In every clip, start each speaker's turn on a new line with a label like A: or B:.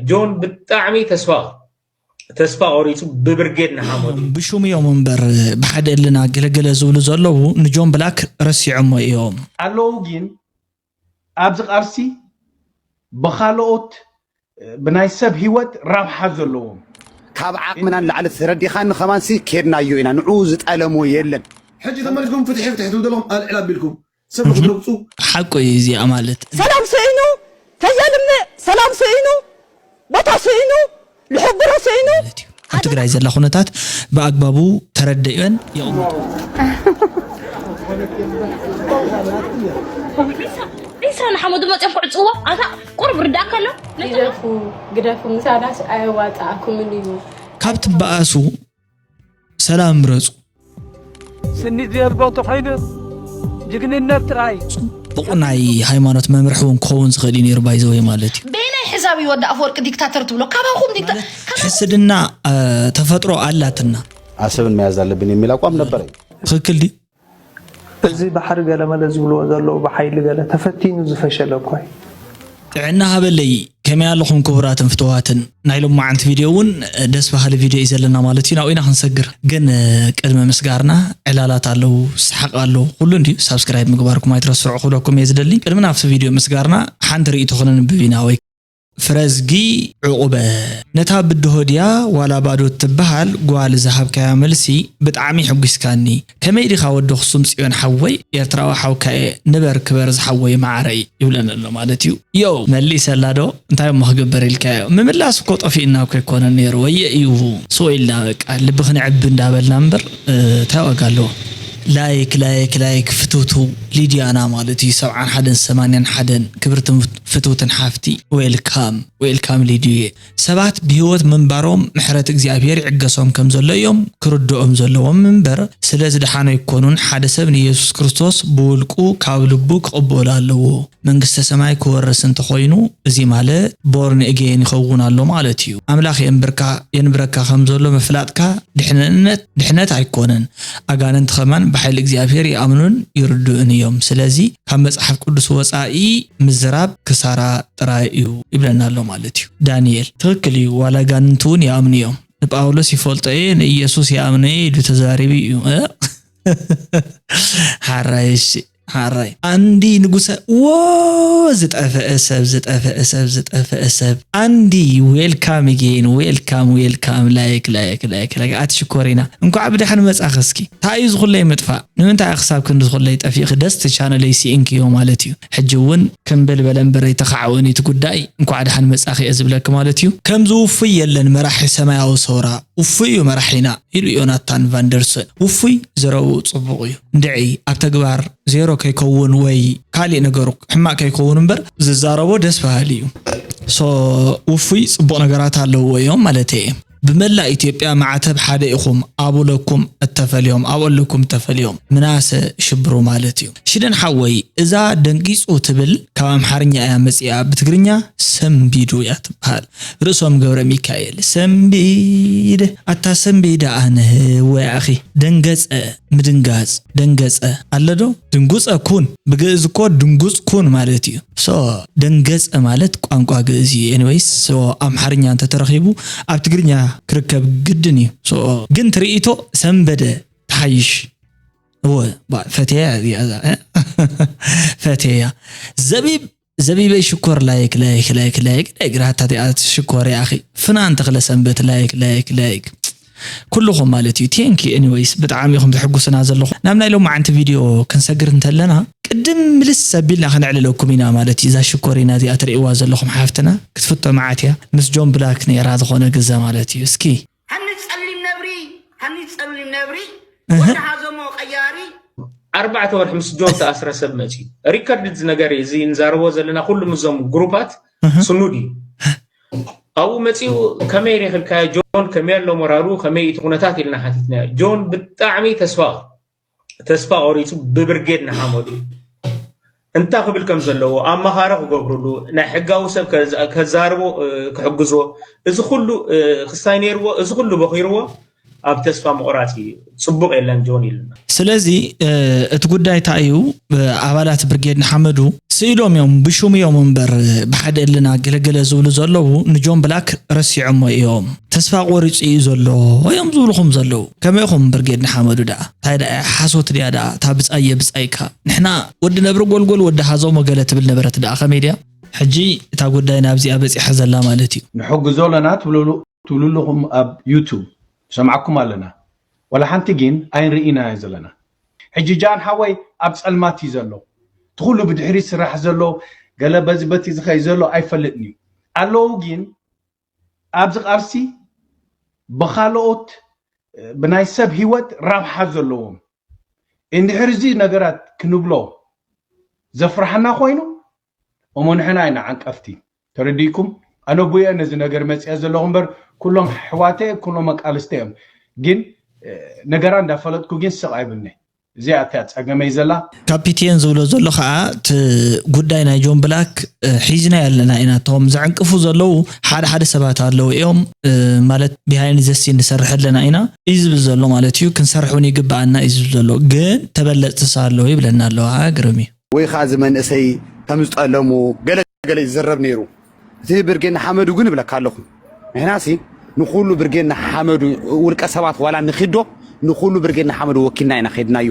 A: ጆን ብጣዕሚ ተስፋ ተስፋ ቆሪፁ ብብርጌድ ንሓመዱ ብሹም እዮም እምበር
B: ብሓደ እልና ገለገለ ዝብሉ ዘለዉ ንጆን ብላክ ረሲዖሞ እዮም ኣለዉ ግን
C: ኣብዚ ቃልሲ ብካልኦት ብናይ ሰብ ህይወት ረብሓ ዘለዎም ካብ
D: ዓቕምና ንላዕሊ ተረዲኻኒ ከማንሲ ኬድናዮ ኢና ንዕኡ ዝጠለሞ የለን። ሕጂ ተመሊስኩም
E: ፍትሒ ፍትሒ ትብሉ ዘለኹም ኣልዕል ኣቢልኩም ሰብ ንኽትረግጹ ሓቁ እዩ እዚኣ
B: ማለት። ሰላም ስኢኑ
F: ከየልምዕ ሰላም ስኢኑ ቦታ ስኢኑ ልሕብሮ ስኢኑ። ማለት እዩ ኣብ ትግራይ ዘላ
B: ኩነታት ብኣግባቡ ተረደእዮን የቕምጦ።
G: ዒስራ ንሓመዱ መፅኦም ክዕፅዎ ኣታ ቁርብ ርዳእ ከሎ ግደፉ
H: ግደፉ ምሳናስ ኣየዋፅኣኩምን እዩ ካብ ትበኣሱ
B: ሰላም ምረጹ
I: ስኒ ዘልቦ ተኾይኑስ ጅግንነት ጥራይ ጽቡቕ ናይ
B: ሃይማኖት መምርሒ እውን ክኸውን ዝኽእል እዩ ነይሩ ባይዘወ ማለት እዩ በየናይ ሕሳብ እዩ ወዲ
G: ኣፈወርቂ ዲክታተር ትብሎ ካባኹም ዲክታ ካባኹም ሕስድና
B: አ፣ ተፈጥሮ ኣላትና ኣሰብን መያዝ
D: ኣለብን የሚል ኣቋም ነበረኝ። ትኽክል ድዩ
B: እዚ
I: ባሕሪ ገለመለ ዝብልዎ ዘለዉ ብሓይሊ ገለ ተፈቲኑ ዝፈሸለ እኮ እዩ። ጥዕና
B: ሃበለይ ከመይ ኣለኹም ኩቡራትን ፍትዋትን ናይ ሎማዓንቲ ቪድዮ ውን ደስ ባሃሊ ቪድዮ እዩ ዘለና ማለት እዩ ናብኡ ኢና ክንሰግር ግን ቅድሚ ምስጋርና ዕላላት ኣለው ሳሓቅ ኣሎ ኩሉ እንድዩ ሳብስክራይብ ምግባርኩም ኣይትረስዑ ክብለኩም እየ ዝደሊ ቅድሚ ናብቲ ቪድዮ ምስጋርና ሓንቲ ሪኢቶ ክነንብብ ኢና ወይ ፍረዝጊ ዑቁበ ነታ ብድሆ ድያ ዋላ ባዶ ትብሃል ጓል ዝሃብካያ መልሲ ብጣዕሚ ሕጒስካኒ ከመይ ዲኻ ወዲ ኣኽሱም ጽዮን ሓወይ ኤርትራዊ ሓውካ እየ ንበር ክበር ዝሓወይ ማዓረይ ይብለኒ ኣሎ ማለት እዩ ዮው መሊሰላ ዶ እንታይ እሞ ክግበር ኢልካዮ ምምላስ እኮ ጠፊእና እኮ ኣይኮነን ነይሩ ወየ እዩ ሱቅ ኢልና በቃ ልቢ ክንዕቢ እንዳበልና እምበር እንታይ ዋጋ ኣለዎ ላይክ ላይክ ላይክ ፍትውትው ሊድያና ማለት እዩ ሰብዓን ሓደን ሰማንያን ሓደን ክብርቲ ፍትውትን ሓፍቲ ዌል ካም ዌል ካም ሊዱየ ሰባት ብሂወት ምንባሮም ምሕረት እግዚኣብሄር ይዕገሶም ከም ዘሎ እዮም ክርድኦም ዘለዎም እምበር ስለ ዝደሓኑ ኣይኮኑን ሓደ ሰብ ንየሱስ ክርስቶስ ብውልቁ ካብ ልቡ ክቅበሎ ኣለዎ መንግስተ ሰማይ ክወርስ እንተኮይኑ እዚ ማለት ቦርን እጌን ይከውን ኣሎ ማለት እዩ ኣምላክ የንብርካ የንብረካ ከም ዘሎ ምፍላጥካ ድሕንነት ድሕነት ኣይኮነን ኣጋንንቲ ከማን ብሓይሊ እግዚኣብሄር ይኣምኑን ይርድኡን እዮም ስለዚ ካብ መጽሓፍ ቅዱስ ወጻኢ ምዝራብ ክሳራ ጥራይ እዩ ይብለና ኣሎ ማለት እዩ ዳንኤል ትኽክል እዩ ዋላ ጋንንቲ እውን ይኣምኑ እዮም ንጳውሎስ ይፈልጦ እየ ንኢየሱስ ይኣምነ እየ ኢሉ ተዛሪቡ እዩ ሓራይ እሺ ሓራይ ኣንዲ ንጉሰ ወ ዝጠፈአ ሰብ ዝጠፈአ ሰብ ዝጠፈአ ሰብ ኣንዲ ዌልካም ጌን ዌልካም ዌልካም ላይክ ላይክ ላይክ ላይክ ኣቲ ሽኮሪና እንኳዕ ብድሓን መጻኽ እስኪ እንታይ እዩ ዝኹለይ ምጥፋእ ንምንታይ ክሳብ ክንዲ ዝኩለይ ጠፊእኪ ደስቲ ቻነለይ ሲኢንክዮ ማለት እዩ ሕጂ ውን ክም ብል በለ እምበር ኣይተካዕወኒ እቲ ጉዳይ እንኳዕ ዳሓን መፃኪ እየ ዝብለኪ ማለት እዩ። ከምዚ ውፉይ የለን መራሒ ሰማያዊ ሰውራ ውፉይ እዩ መራሒና ኢሉ ዮናታን ቫንደርሰን ውፉይ ዘረብኡ ፅቡቅ እዩ እንድዒ ኣብ ተግባር ዜሮ ከይከውን ወይ ካሊእ ነገሩ ሕማቅ ከይከውን እምበር ዝዛረቦ ደስ በሃሊ እዩ ሶ ውፉይ ፅቡቅ ነገራት ኣለውዎ እዮም ማለተይ እየ። ብመላእ ኢትዮጵያ ማዕተብ ሓደ ኢኹም ኣቡለኩም እተፈልዮም ኣብኦለኩም እተፈልዮም ምናሰ ሽብሩ ማለት እዩ ሽደን ሓወይ እዛ ደንጊጹ ትብል ካብ ኣምሓርኛ እያ መጺኣ ብትግርኛ ሰምቢዱ እያ ትበሃል ርእሶም ገብረሚካኤል ሰምቢድ ኣታ ሰምቢድ ኣነ ወያኺ ደንገጸ ምድንጋጽ፣ ደንገጸ፣ ኣለ ዶ? ድንጉጸ ኩን ብግእዝ እኮ ድንጉጽ ኩን ማለት እዩ። ሶ ደንገጸ ማለት ቋንቋ ግእዝ እዩ። ኤኒወይስ ሶ ኣምሓርኛ እንተ ተረኺቡ ኣብ ትግርኛ ክርከብ ግድን እዩ። ሶ ግን ትርኢቶ ሰንበደ ትሓይሽ። እወ ፈቴያ እዚኣ ፈቴያ ዘቢብ ዘቢበይ ሽኮር ላይክ ላይክ ላይክ ላይክ ላይክ ራህታቲኣት ሽኮር ያኺ ፍናን ተኽለ ሰንበት ላይክ ላይክ ላይክ ኩልኹም ማለት እዩ ቴንክ ኤኒዌይስ ብጣዕሚ ኢኹም ተሕጉስና ዘለኹ ናብ ናይ ሎማዓንቲ ቪድዮ ክንሰግር እንተለና ቅድም ምልስ ኣቢልና ከነዕልለኩም ኢና ማለት እዩ እዛ ሽኮሪና እዚኣ ትርእይዋ ዘለኹም ሓፍትና ክትፍቶ መዓት እያ ምስ ጆን ብላክ ነይራ ዝኾነ ግዘ ማለት እዩ እስኪ ሃኒ
J: ጸሊም ነብሪ ሃኒ ጸሊም ነብሪ ወዲ ሃዘሞ ቀያሪ ኣርባዕተ
A: ወርሒ ምስ ጆን ተኣስረ ሰብ መፅዩ ሪከርድ እዚ ነገር እዩ እዚ ንዛረቦ ዘለና ኩሉ ምዞም ግሩፓት ስኑድ እዩ ኣብኡ መፅኡ ከመይ ሬክልካዮ ጆን ከመይ ኣሎ ሞራሉ ከመይ እቲ ኩነታት ኢልና ሓቲትናዮ ጆን ብጣዕሚ ተስፋ ተስፋ ቆሪፁ ብብርጌድ ንሓመዱ እንታይ ክብል ከም ዘለዎ ኣማኻሪ ክገብርሉ ናይ ሕጋዊ ሰብ ከዛርቦ ክሕግዝዎ እዚ ኩሉ ክስታይ ነይርዎ እዚ ኩሉ በኺርዎ ኣብ ተስፋ ምቑራፅ እዩ ፅቡቕ የለን ጆን ኢሉና ስለዚ
B: እቲ ጉዳይ እንታይ እዩ ኣባላት ብርጌድ ንሓመዱ ስኢሎም እዮም ብሹም እዮም እምበር ብሓደ እልና ገለገለ ዝብሉ ዘለዉ ንጆን ብላክ ረሲዖሞ እዮም ተስፋ ቆሪፁ እዩ ዘሎ እዮም ዝብልኹም ዘለዉ ከመይ ኹም ብርጌድ ንሓመዱ ደኣ እንታይ ደኣ እያ ሓሶት ድያ ደኣ እታ ብፃይ የብፃይካ ንሕና ወዲ ነብሪ ጎልጎል ወዲ ሃዞሞ ገለ ትብል ነበረት ደኣ ከመይ ድያ ሕጂ እታ ጉዳይ ናብዚኣ በፂሓ ዘላ ማለት እዩ። ንሕግዞ ኣለና ትብሉ
C: ኣለኹም ኣብ ዩቱብ ንሰምዓኩም ኣለና ዋላ ሓንቲ ጊን ኣይንርኢን ኢና ዘለና ሕጂ ጃን ሓወይ ኣብ ጸልማት እዩ ዘሎ እቲ ኩሉ ብድሕሪት ዝስራሕ ዘሎ ገለ በዚ በቲ ዝከይድ ዘሎ ኣይፈልጥን እዩ ኣለው ጊን ኣብዚ ቃልሲ ብካልኦት ብናይ ሰብ ሂወት ራብሓ ዘለዎም እንድሕር እዚ ነገራት ክንብሎ ዘፍራሓና ኮይኑ እሞ ንሕና ኢና ዓንቀፍቲ ተረዲእኩም ኣነቡየ ነዚ ነገር መፅኤ ዘለኹ እምበር ኩሎም ኣሕዋተ ኩሎም መቃልስተ እዮም ግን ነገራ እንዳፈለጥኩ ግን ስቕ ኣይብልነ እዚኣ እቲያ ፀገመይ ዘላ ካፒቴን ዝብሎ
B: ዘሎ ከዓ እቲ ጉዳይ ናይ ጆን ብላክ ሒዝናዮ ኣለና ኢና እቶም ዘዕንቅፉ ዘለዉ ሓደ ሓደ ሰባት ኣለዉ እዮም ማለት ቢሃይንድ ዘ ሲን ንሰርሕ ኣለና ኢና እዩ ዝብል ዘሎ ማለት እዩ ክንሰርሕ እውን ይግበኣና እዩ ዝብል ዘሎ ግን ተበለፅቲ ኣለዉ ይብለና ኣለዋ ግርም እዩ ወይ ከኣ እዚ መንእሰይ
D: ከም ዝጠለሙ ገለ ገለ ይዝረብ ነይሩ። እቲ ብርጌድ ንሓመዱ ግን እብለካ ኣለኹ ንሕናሲ ንኹሉ ብርጌድ ንሓመዱ ውልቀ ሰባት ዋላ ንኺዶ ንኹሉ ብርጌድ ንሓመዱ ወኪልና ኢና ኬድናዮ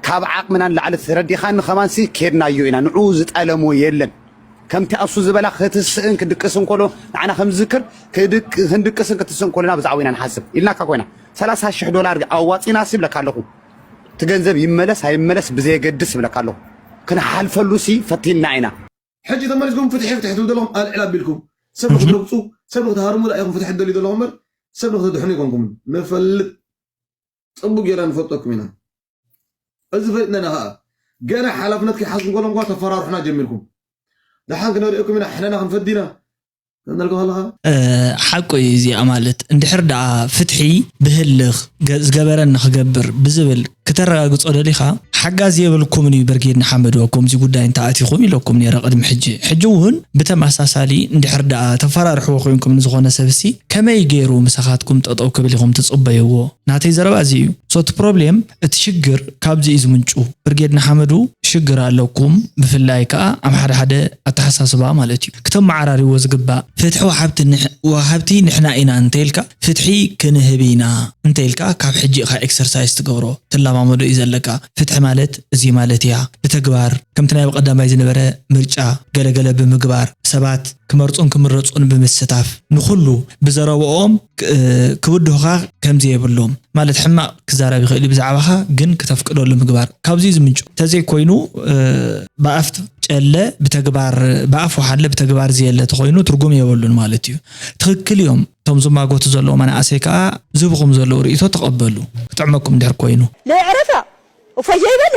D: ካብ ዓቕምና ንላዕሊ ተረዲኻኒ ከማንሲ ኬድናዮ ኢና ንዑ ዝጠለሞ የለን ከምቲ ኣሱ ዝበላ ክትስእን ክድቅስን ከሎ ንዓና ከምዝዝክር ክንድቅስን ክትስእን ከሎና ብዛዕባ ኢና ንሓስብ ኢልናካ ኮይና ሰላሳ ሽሕ ዶላር ኣዋፂና ሲ ይብለካ ኣለኹ እቲ ገንዘብ ይመለስ ኣይመለስ ብዘየገድስ እብለካ ኣለኹ ክንሓልፈሉ ሲ ፈቲና ኢና። ሕጂ ተመሊስኩም
E: ፍትሒ ፍትሒ ትብሉ ዘለኹም ኣልዕል ኣቢልኩም ሰብ ንኽትረግጹ ሰብ ንኽትሃርሙ ዳኣ ኢኹም ፍትሒ ትደልዩ ዘለኹም እምበር ሰብ ንኽተድሕኑ ኣይኮንኩምን ንፈልጥ ጽቡቅ ጌርና ንፈልጠኩም ኢና እዚ ፈሊጥና ኢና ከኣ ገና ሓላፍነት ከይሓዝኩም ከለኹም ከኣ ተፈራርሑና ጀሚርኩም ደሓን ክንርእየኩም ኢና ሕነና ክንፈዲ ኢና ተመልክቶ ኣለኻ?
B: ሓቁ እዩ እዚ ኣማልት እንድሕር ደኣ ፍትሒ ብህልኽ ዝገበረኒ ክገብር ብዝብል ክተረጋግጾ ደሊኻ ሓጋዚ የብልኩምን እዩ በርጌድ ንሓመዱ ኣብ ኮምዚ ጉዳይ እንተ ኣቲኹም ኢለኩም ኔረ ቅድሚ ሕጂ ሕጂ እውን ብተመሳሳሊ እንድሕር ደኣ ተፈራርሕዎ ኮይንኩም ንዝኾነ ሰብሲ ከመይ ጌሩ ምሳኻትኩም ጠጠው ክብል ኢኹም ትጽበይዎ ናተይ ዘረባ እዚ እዩ so እቲ ፕሮብሌም እቲ ሽግር ካብዚ እዩ ዝምንጩ ብርጌድ ንሓመዱ ሽግር ኣለኩም ብፍላይ ከኣ ኣብ ሓደ ሓደ ኣተሓሳስባ ማለት እዩ ክተመዓራርይዎ ዝግባእ ፍትሒ ወሓብቲ ወሃብቲ ንሕና ኢና እንተይልካ ፍትሒ ክንህብ ኢና እንተይልካ ካብ ሕጂ ኢኻ ኤክሰርሳይስ ትገብሮ ትለማመዶ እዩ ዘለካ ፍትሒ ማለት እዚ ማለት እያ ብተግባር ከምቲ ናይ ብቀዳማይ ዝነበረ ምርጫ ገለ ገለ ብምግባር ሰባት ክመርጹን ክምረጹን ብምስታፍ ንኹሉ ብዘረበኦም ክብድሁኻ ከምዘየብሎም ማለት ሕማቕ ክዛረብ ይኽእል እዩ ብዛዕባኻ ግን ክተፍቅደሉ ምግባር ካብዚ ዝምንጩ ተዘይኮይኑ ብኣፍ ጨለ ብተግባር ብኣፍ ወሓለ ብተግባር ዘየለ ተኾይኑ ትርጉም የበሉን ማለት እዩ ትኽክል እዮም እቶም ዝማጎቱ ዘለዉ መናእሰይ ከዓ ዝብኹም ዘለዉ ርእቶ ተቐበሉ ክጥዕመኩም ድሕር ኮይኑ ለይዕረፋ
F: እፎይ ዘይበለ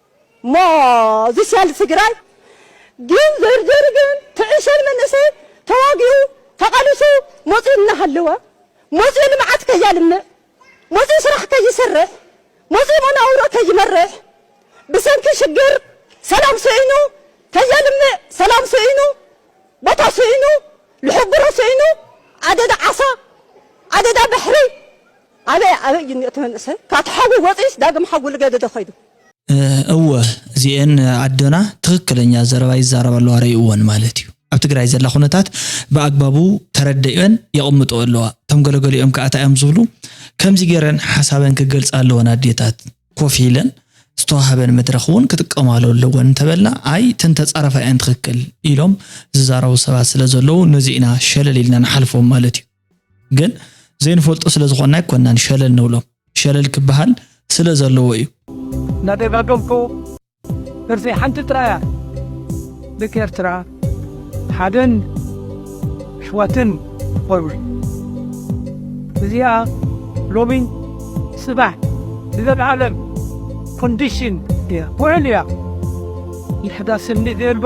F: እሞ እዚ ሸል ትግራይ ግን ዘርዘሪ ግን ትዕሸል መንእሰይ ተዋጊኡ ተቓሊሱ መፂኡ እናሃለወ መፂኡ ልምዓት ከያልምዕ መፂኡ ስራሕ ከይሰርሕ መፂኡ መናውሮ ከይመርሕ ብሰንኪ ሽግር ሰላም ስኢኑ ከየልምዕ ሰላም ስኢኑ ቦታ ስኢኑ ልሕብሮ ስኢኑ ኣደዳ ዓሳ ኣደዳ ባሕሪ ኣበይ ኣበይ እዩ እኒኦ እቲ መንእሰይ? ካብቲ ሓዊ ወፂኡስ ዳግም ሓዊ ልገድዶ ከይዱ? እወ
B: እዚኤን ኣዶና ትኽክለኛ ዘረባ ይዛረባ ኣለዋ ረእይወን ማለት እዩ ኣብ ትግራይ ዘላ ኩነታት ብኣግባቡ ተረደእዮን የቅምጥኦ ኣለዋ እቶም ገለገሊኦም ከኣ ታይ እዮም ዝብሉ ከምዚ ገይረን ሓሳበን ክገልፃ ኣለወን ኣዴታት ኮፍ ኢለን ዝተዋሃበን መድረኽ እውን ክጥቀማሉ ኣለወን እንተበልና ኣይ እተን ተፃረፋ እየን ትኽክል ኢሎም ዝዛረቡ ሰባት ስለዘለዉ ነዚ ኢና ሸለል ኢልና ንሓልፎም ማለት እዩ። ግን ዘይንፈልጦ ስለ ዝኾንና ኣይኮናን ሸለል ንብሎም ሸለል ክበሃል ስለ ዘለዎ እዩ እናደጋገምኩ
I: ደርሲ ሓንቲ ጥራያ ደቂ ኤርትራ ሓደን ኣሕዋትን ኾኑ እዚኣ ሎሚ ጽባሕ ንዘለዓለም ኮንዲሽን እያ ውዕል እያ ይሕዳስኒ ዘልቦ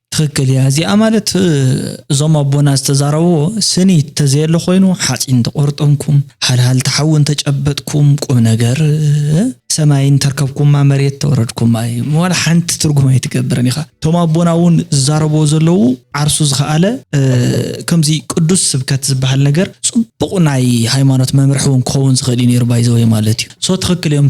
I: ትክክል
B: እያ እዚኣ ማለት እዞም ኣቦና ዝተዛረብዎ ስኒ ተዘየለ ኮይኑ ሓፂን ተቆርጠምኩም ሃልሃልቲ ሓዊ እንተጨበጥኩም ቁም ነገር ሰማይ እንተርከብኩማ መሬት ተወረድኩማ እዩ ዋላ ሓንቲ ትርጉም ኣይትገብርን ኢኻ እቶም ኣቦና እውን ዝዛረብዎ ዘለዉ ዓርሱ ዝኸኣለ ከምዚ ቅዱስ ስብከት ዝበሃል ነገር ፅቡቕ ናይ ሃይማኖት መምርሒ እውን ክኸውን ዝኽእል እዩ ነይሩ ባይዘወይ ማለት እዩ ሶ ትኽክል እዮም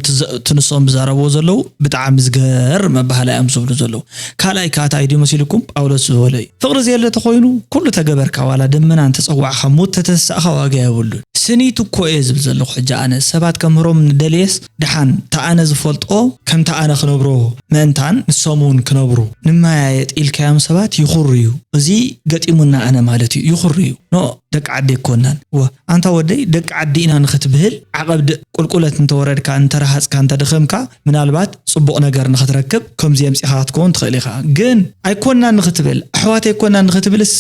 B: ትንሶም ዝዛረብዎ ዘለዉ ብጣዕሚ ዝገርም ኣባህላ እዮም ዝብሉ ዘለዉ ካልኣይ ከኣ ታይ ድዩ መሲሉኩም ጳውሎስ ዝበሎ እዩ ፍቅሪ ዘየለ ተኮይኑ ኩሉ ተገበርካ ዋላ ደመና እንተ ጸዋዕካ ሞት ተተሳእካ ዋጋ የብሉን። ስኒት እኮ እየ ዝብል ዘለኩ ሕጂ ኣነ ሰባት ከምህሮም ንደልየስ ድሓን ታኣነ ዝፈልጦ ከም ታኣነ ክነብሮ ምእንታን ንሶም ውን ክነብሩ ንመያየጥ ኢልካዮም ሰባት ይኩርዩ እዚ ገጢሙና ኣነ ማለት እዩ ይኩርዩ ን ደቂ ዓዲ ኣይኮናን እወ ኣንታ ወደይ ደቂ ዓዲ ኢና ንክትብህል ዓቀብ ቁልቁለት እንተወረድካ እንተረሃጽካ እንተደከምካ ምናልባት ጽቡቕ ነገር ንኽትረክብ ከምዚ የምጺኻ ክትከውን ትኽእል ኢኻ ግን ኣይኮናን ንኽትብል ኣሕዋት ኣይኮናን ንኽትብልስ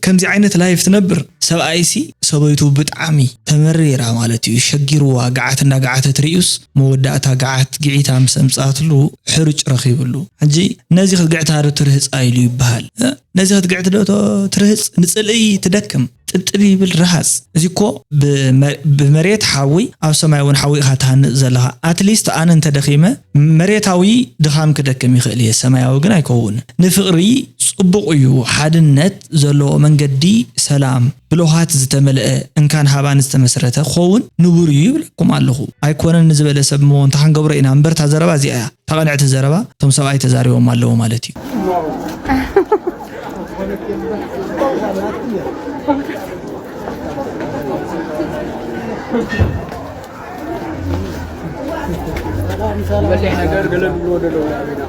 B: ከምዚ ዓይነት ላይፍ ትነብር ሰብኣይሲ ሰበይቱ ብጣዕሚ ተመሪራ ማለት እዩ ሸጊርዋ ግዓት እንዳግዓተት ሪኡስ መወዳእታ ግዓት ግዒታ ምስ ኣምጽኣትሉ ሕርጭ ረኺብሉ ሕጂ ነዚ ክትግዕታ ዶ ትርህጻ ኢሉ ይብሃል ነዚ ክትግዕት ዶ ትርህጽ ንጽልኢ ትደክም ጥብጥብ ይብል ርሃጽ እዚ እኮ ብመሬት ሓዊ ኣብ ሰማይ እውን ሓዊ ኢኻ ትሃንጽ ዘለኻ ኣትሊስት ኣነ እንተደኺመ መሬታዊ ድኻም ክደክም ይኽእል እየ ሰማያዊ ግን ኣይከውን ንፍቕሪ ጽቡቕ እዩ ሓድነት ዘለዎ መንገዲ ሰላም ብልኋት ዝተመልአ እንካን ሃባን ዝተመስረተ ክኸውን ንቡር እዩ ይብለኩም ኣለኹ። ኣይኮነን ንዝበለ ሰብ እሞ እንታይ ክንገብሮ ኢና እምበር እታ ዘረባ እዚኣ እያ እታ ቅንዕቲ ዘረባ እቶም ሰብኣይ ተዛሪቦም ኣለዉ ማለት እዩ።
K: ዝበሊሕ ነገር ገለ ዝብልዎ ደለዉ
B: ኣበና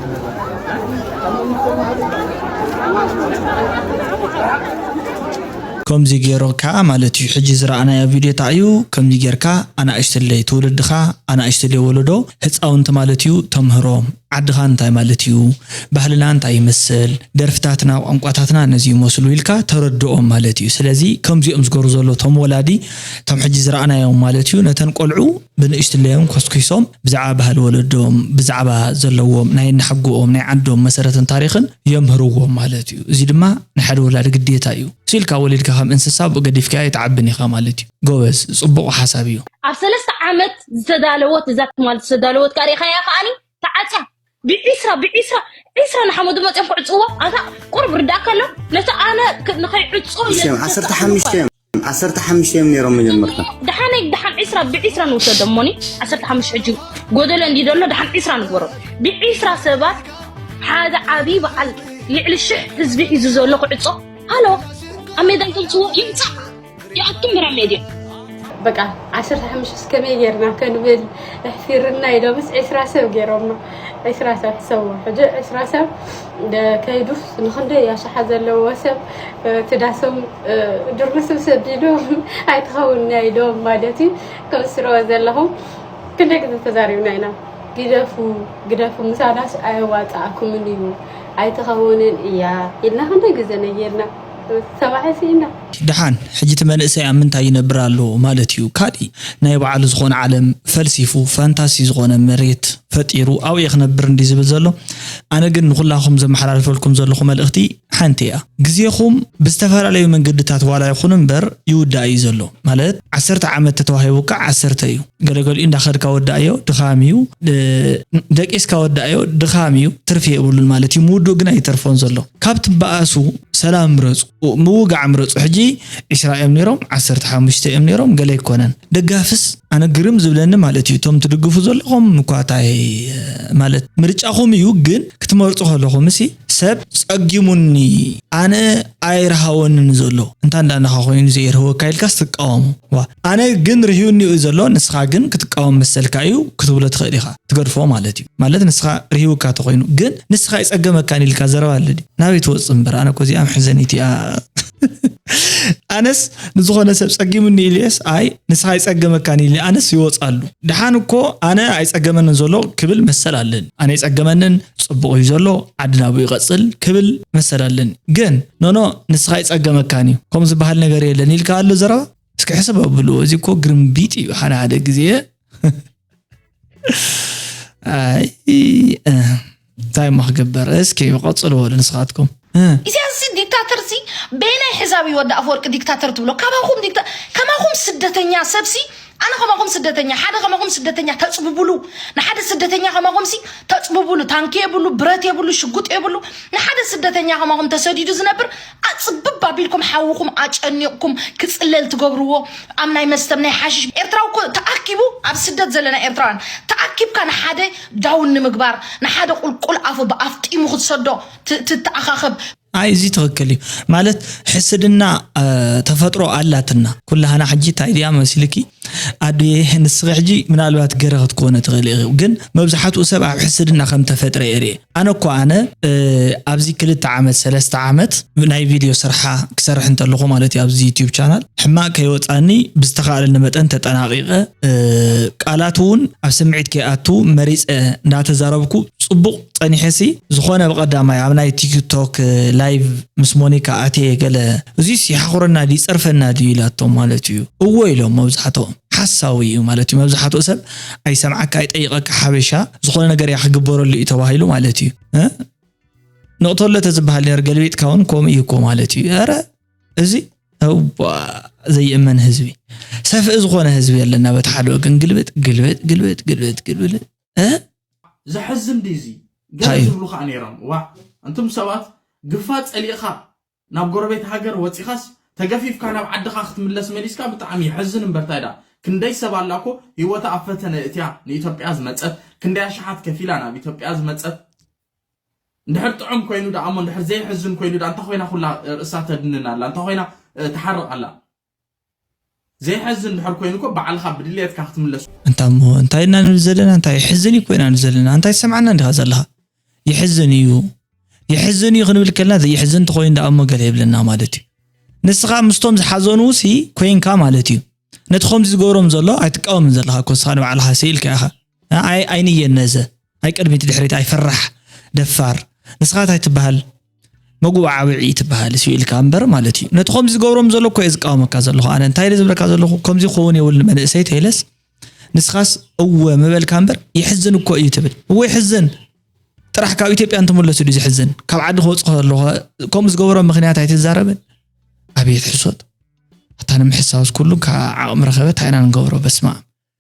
B: ከምዚ ገይሩ ክኣ ማለት እዩ ሕጂ ዝረኣናዮ ቪድዮ ታይ እዩ ከምዚ ገይርካ ኣናእሽተለይ ትውልድካ ኣናእሽተለይ ወለዶ ህፃውንቲ ማለት እዩ ተምህሮም ዓድኻ እንታይ ማለት እዩ፣ ባህልና እንታይ ይመስል፣ ደርፍታትና፣ ቋንቋታትና ነዚ ይመስሉ ኢልካ ተረድኦም ማለት እዩ። ስለዚ ከምዚኦም ዝገብሩ ዘለዉ እቶም ወላዲ እቶም ሕጂ ዝረኣናዮም ማለት እዩ ነተን ቆልዑ ብንእሽትለዮም ኮስኪሶም ብዛዕባ ባህሊ ወለዶም ብዛዕባ ዘለዎም ናይ ኣናሓጎኦም ናይ ዓዶም መሰረትን ታሪኽን የምህርዎም ማለት እዩ። እዚ ድማ ናይ ሓደ ወላዲ ግዴታ እዩ። ስኢልካ ወሊድካ ከም እንስሳ ኣብኡ ገዲፍካዮ ኣይትዓብን ኢኻ ማለት እዩ። ጎበዝ ጽቡቕ ሓሳብ እዩ። ኣብ ሰለስተ ዓመት
G: ዝተዳለወት እዛ ትማል ዝተዳለወት ከዓ ሪኢኻያ ከዓኒ ተዓፅያ ብዒስራ ብዒስራ ዒስራ ንሓመዱ መፅኦም ክዕፅዎ ኣታ ቁርብ ርዳእካ ኣሎ ነቲ ኣነ ንኸይዕፆ ዓሰርተ ሓሙሽተ እዮም
D: ዓሰርተ ሓሙሽተ እዮም ነይሮም መጀመርታ ደሓነይ ደሓን ዒስራ
G: ብዒስራ ንውሰዶ እሞኒ ዓሰርተ ሓሙሽ ሕጂ ጎደሎ እንዲ ደሎ ደሓን ዒስራ ንግበሮ ብዒስራ ሰባት ሓደ ዓብዪ በዓል ልዕሊ ሽሕ ህዝቢ ሒዙ ዘሎ ክዕፆ ሃሎ ኣብ ሜዳ ይገልፅዎ ይምፃእ ይኣቱም ብራ ሜድያ በቃ
H: ዓሰርተ ሓሙሽተ እስከመይ ጌርና ከንብል ኣሕፊርና ኢሎም ምስ ዕስራ ሰብ ገይሮማ ዕስራ ሰብ ሰው ሕጂ ዕስራ ሰብ ከይዱስ ንክንደይ ኣሽሓ ዘለዎ ሰብ ትዳሶም ድርብስብ ሰዲዶም ኣይትኸውንና ኢሎም ማለት እዩ ከም ስርኦ ዘለኹም ክንደይ ግዜ ተዛሪብና ኢና ግደፉ ግደፉ ምሳናስ ኣየዋፅኣኩምን እዩ ኣይትኸውንን እያ ኢልና ክንደይ ግዜ ነጌርና ሰባሒ ሲኢና።
B: ደሓን ሕጂ እቲ መንእሰይ ኣብ ምንታይ ይነብር ኣሎ ማለት እዩ ካሊእ ናይ ባዓሉ ዝኮነ ዓለም ፈልሲፉ ፋንታሲ ዝኮነ መሬት ፈጢሩ ኣብኡ እየ ክነብር እንድዩ ዝብል ዘሎ ኣነ ግን ንኩላኩም ዘመሓላልፈልኩም ዘለኩ መልእክቲ ሓንቲ እያ ግዜኩም ብዝተፈላለዩ መንገድታት ዋላ ይኩን እምበር ይውዳእ እዩ ዘሎ ማለት ዓሰርተ ዓመት ተተዋሂቡካ ዓሰርተ እዩ ገለገሊኡ እንዳከድካ ወዳኣዮ ድካም እዩ ደቂስካ ወዳኣዮ ድካም እዩ ትርፊ የብሉን ማለት እዩ ምውድኡ ግን ኣይተርፎን ዘሎ ካብ ትባኣሱ ሰላም ምረጹ ምውጋዕ ምረጹ ሕጂ ዕስራ እዮም ነይሮም ዓሰርተ ሓሙሽተ እዮም ነይሮም ገለ ኣይኮነን ደጋፍስ ኣነ ግርም ዝብለኒ ማለት እዩ እቶም ትድግፉ ዘለኹም እኳ ታይ ማለት ምርጫኹም እዩ ግን ክትመርጹ ከለኹምሲ ሰብ ጸጊሙኒ ኣነ ኣይርሃወንን ዘሎ እንታ እንዳ ንኻ ኮይኑ ዘየርህወካ ኢልካስ ትቃወሙ ዋ ኣነ ግን ርህዩኒ እዩ ዘሎ ንስኻ ግን ክትቃወም መሰልካ እዩ ክትብሎ ትኽእል ኢኻ ትገድፎ ማለት እዩ ማለት ንስኻ ርሂውካ ተኾይኑ ግን ንስኻ ይጸገመካን ኢልካ ዘረባ ኣለ ድዩ? ናበይ ትወጽእ እምበር ኣነ እኮ እዚኣ መሕዘኒት እያ። ኣነስ ንዝኾነ ሰብ ጸጊሙኒ ኢልየስ ኣይ ንስኻ ይጸገመካን ኢለ ኣነስ ይወጻሉ። ድሓን እኮ ኣነ ኣይጸገመንን ዘሎ ክብል መሰል ኣለኒ። ኣነ ይጸገመንን ጽቡቕ እዩ ዘሎ ዓዲ ናብኡ ይቐጽል ክብል መሰል ኣለኒ። ግን ኖኖ ንስኻ ይጸገመካን እዩ ከምኡ ዝበሃል ነገር የለን ኢልካ ኣሎ ዘረባ እስኪ ሕሰብ ኣብሉ። እዚ እኮ ግርምቢጥ እዩ ሓደ ሓደ ግዜ እንታይ እሞ ክግበር እስኪ ቀፅልዎ ንስኻትኩም ኢሳያስ
J: ዲክታተር ሲ በየናይ ሕዛብ እዩ ወዲ ኣፈወርቂ ዲክታተር ትብሎ ካባኹም ዲክታ ከማኹም ስደተኛ ሰብሲ ኣነ ከማኹም ስደተኛ ሓደ ከማኹም ስደተኛ ተፅብብሉ ንሓደ ስደተኛ ከማኹም ሲ ተፅብብሉ ታንኪ የብሉ ብረት የብሉ ሽጉጥ የብሉ ንሓደ ስደተኛ ከማኹም ተሰዲዱ ዝነብር ኣፅብብ ኣቢልኩም ሓውኹም ኣጨኒቕኩም ክፅለል ትገብርዎ ኣብ ናይ መስተም ናይ ሓሽሽ ኤርትራዊ እኮ ተኣኪቡ ኣብ ስደት ዘለና ኤርትራውያን ተኣኪብካ ንሓደ ዳውን ንምግባር ንሓደ ቁልቁል ኣፉ ብኣፍጢሙ ክትሰዶ ት- ትተኣኻኸብ ኣይ እዚ
B: ትክክል እዩ ማለት ሕስድና እ፣ ተፈጥሮ ኣላትና ኩላህና ሕጂ እንታይ ድያ መሲልኪ ኣዱየ ንስኺ ሕጂ ምናልባት ገረ ክትኮነ ትኽእሊ ኢኺ ግን መብዛሕትኡ ሰብ ኣብ ሕስድና ከም ተፈጥረ እየ ኣነ እኮ ኣነ ኣብዚ ክልተ ዓመት ሰለስተ ዓመት ናይ ቪድዮ ስርሓ ክሰርሕ እንተለኹ ማለት እዩ ኣብዚ ዩቲዩብ ቻናል ሕማቅ ከይወፃኒ ብዝተኻእለኒ መጠን ተጠናቂቀ ቃላት እውን ኣብ ስምዒት ከይኣቱ መሪፀ እንዳተዛረብኩ ፅቡቅ ጸኒሐሲ ዝኾነ ብቀዳማይ ኣብ ናይ ቲክ ቶክ ላይቭ ምስ ሞኒካ ኣትየ ገለ እዙይስ ይሓኹረና ድዩ ይጸርፈና ድዩ ኢላቶም ማለት እዩ እወ ኢሎም መብዛሕትኦም ሓሳዊ እዩ ማለት እዩ መብዛሕትኡ ሰብ ኣይሰምዓካ ኣይጠይቐካ ሓበሻ ዝኾነ ነገር እያ ክግበረሉ እዩ ተባሂሉ ማለት እዩ እ ንቕተሎ ተዝበሃል ነር ገልቢጥካ እውን ከምኡ እዩ እኮ ማለት እዩ ኧረ እዚ እዋ ዘይእመን ህዝቢ ሰፍኢ ዝኾነ ህዝቢ ኣለና በቲ ሓደ ወገን ግልብጥ ግልብጥ ግልብጥ ግልብጥ ግልብጥ ዘሕዝን
L: ድዩ እዚ ገለ ዝብሉ ከዓ ነይሮም ዋዕ እንቱም ሰባት ግፋ ፀሊእኻ ናብ ጎረቤት ሃገር ወፂኻስ ተገፊፍካ ናብ ዓድኻ ክትምለስ መሊስካ ብጣዕሚ የሕዝን እምበር ታይ ድኣ ክንደይ ሰብ ኣላ እኮ ሂወታ ኣብ ፈተነ እትያ ንኢትዮጵያ ዝመፀት ክንደይ ኣሽሓት ከፊላ ናብ ኢትዮጵያ ዝመፀት እንድሕር ጥዑም ኮይኑ ድኣ እሞ እንድሕር ዘይሕዝን ኮይኑ ድኣ እንታይ ኮይና ኩላ ርእሳ ተድንን ኣላ እንታይ ኮይና ትሓርቕ ኣላ ዘይሐዝን ድሕር ኮይኑ እኮ ባዕልካ ብድልየትካ ክትምለስ እንታ እሞ እንታይ ኢና ንብል
B: ዘለና እንታይ ይሕዝን እዩ እኮ ኢና ንብል ዘለና እንታይ ትሰምዓና እንዲኻ ዘለኻ ይሕዝን እዩ ይሕዝን እዩ ክንብል ከለና ዘይሕዝን እንተኮይኑ ደኣ እሞ ገለ የብለና ማለት እዩ ንስኻ ምስቶም ዝሓዘኑ ሲ ኮይንካ ማለት እዩ ነቲ ከምዚ ዝገብሮም ዘሎ ኣይትቃወምን ዘለኻ እኮ ንስኻ ንባዕልኻ ስኢልካ ኢኻ ንዓይ ኣይንየን ነዘ ኣይ ቅድሚት ድሕሪት ኣይ ፈራሕ ደፋር ንስኻ ታይ ትበሃል መጉእ ዓብዒ ትበሃል እሱ ኢልካ እምበር ማለት እዩ ነቲ ከምዚ ዝገብሮም ዘሎ እኮ እየ ዝቃወመካ ዘለኹ ኣነ እንታይ ኢለ ዝብለካ ዘለኹ ከምዚ ክኸውን የብሉን መንእሰይ ተይለስ ንስኻስ እወ ምበልካ እምበር ይሕዝን እኮ እዩ ትብል እወ ይሕዝን ጥራሕ ካብ ኢትዮጵያ እንትመለሱ ድዩ ዝሕዝን ካብ ዓዲ ክወፅእ ከለኹ ከምኡ ዝገበሮም ምክንያት ኣይትዛረብን ኣብየት ሕሶት ኣታ ንምሕሳውስ ኩሉ ካብ ዓቕሚ ረኸበ ታይ ኢና ንገብሮ በስማ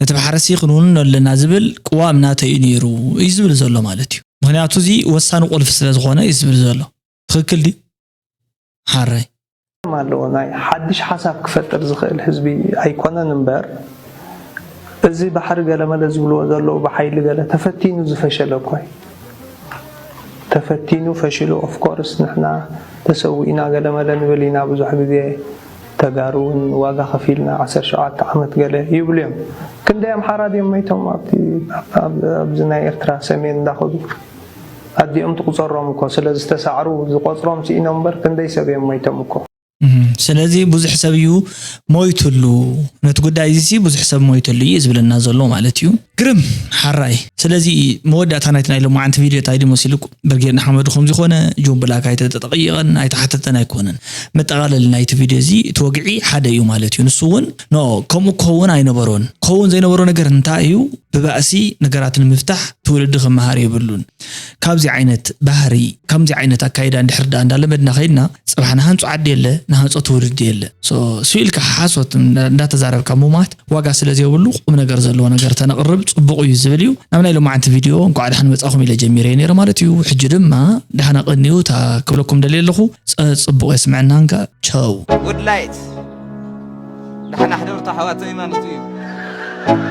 B: ነቲ መሓረሲ ክንውንኖ ኣለና ዝብል ቅዋም ናተይ እዩ ነይሩ እዩ ዝብል ዘሎ ማለት እዩ። ምክንያቱ እዚ ወሳኒ ቁልፊ ስለ ዝኮነ እዩ ዝብል ዘሎ ትክክል ድዩ ሓረይ። ጸገም ኣለዎ
I: ናይ ሓድሽ ሓሳብ ክፈጥር ዝክእል ህዝቢ ኣይኮነን እምበር እዚ ባሕሪ ገለመለ ዝብልዎ ዘለዉ ብሓይሊ ገለ ተፈቲኑ ዝፈሸለ እኮ እዩ ተፈቲኑ ፈሽሉ ኦፍኮርስ ንሕና ተሰዊእና ገለመለ ንብል ኢና ብዙሕ ግዜ ተጋሩ ውን ዋጋ ከፊልና ዓሰርተ ሸውዓተ ዓመት ገለ ይብሉ እዮም ክንደይ ኣምሓራ ድዮም መይቶም ኣብቲ ኣብዚ ናይ ኤርትራ ሰሜን እንዳኸዱ ኣዲኦም ትቁጸሮም እኮ ስለ ዝተሳዕሩ ዝቆጽሮም ሲኢኖም እምበር ክንደይ ሰብ እዮም መይቶም እኮ። ስለዚ
B: ብዙሕ ሰብ እዩ ሞይትሉ ነቲ ጉዳይ እዚሲ ብዙሕ ሰብ ሞይትሉ እዩ ዝብለና ዘሎ ማለት እዩ። ግርም ሐራይ ስለዚ መወዳእታ ናይቲ ናይ ሎማዓንቲ ቪድዮ ታይ ድዩ መሲሉ ብርጌድ ንሓመዱ ከምዚ ኮነ ጆን ብላክ ኣይተጠጠቐይቐን ኣይተሓተተን ኣይኮነን መጠቓለሊ ናይቲ ቪድዮ እዚ እቲ ወግዒ ሓደ እዩ ማለት እዩ ንሱ እውን ኖ ከምኡ ክኸውን ኣይነበሮን ክኸውን ዘይነበሮ ነገር እንታይ እዩ ብባእሲ ነገራት ንምፍታሕ ትውልዲ ክመሃር የብሉን ካብዚ ዓይነት ባህሪ ከምዚ ዓይነት ኣካይዳ እንድሕር ዳኣ እንዳለመድና ከይድና ፅባሕ ንሃንፁ ዓዲ የለ ንሃንፆ ትውልዲ የለ ስኢልካ ሓሶት እንዳተዛረብካ ምሟት ዋጋ ስለ ዘይብሉ ቁም ነገር ዘለዎ ነገር ተነቅርብ ጽቡቅ እዩ ዝብል እዩ ናብ ናይ ሎማዓንቲ ቪድዮ እንኳዕ ድሓን መጻኹም ኢለ ጀሚረዮ ነይረ ማለት እዩ ሕጂ ድማ ድሓና ቀንዩ እታ ክብለኩም ደልየ ኣለኹ ጽቡቅ የስምዐና እንካ ቸው Good light
M: ደሓና ሕደሩ ኣሕዋተይ ማለቱ እዩ።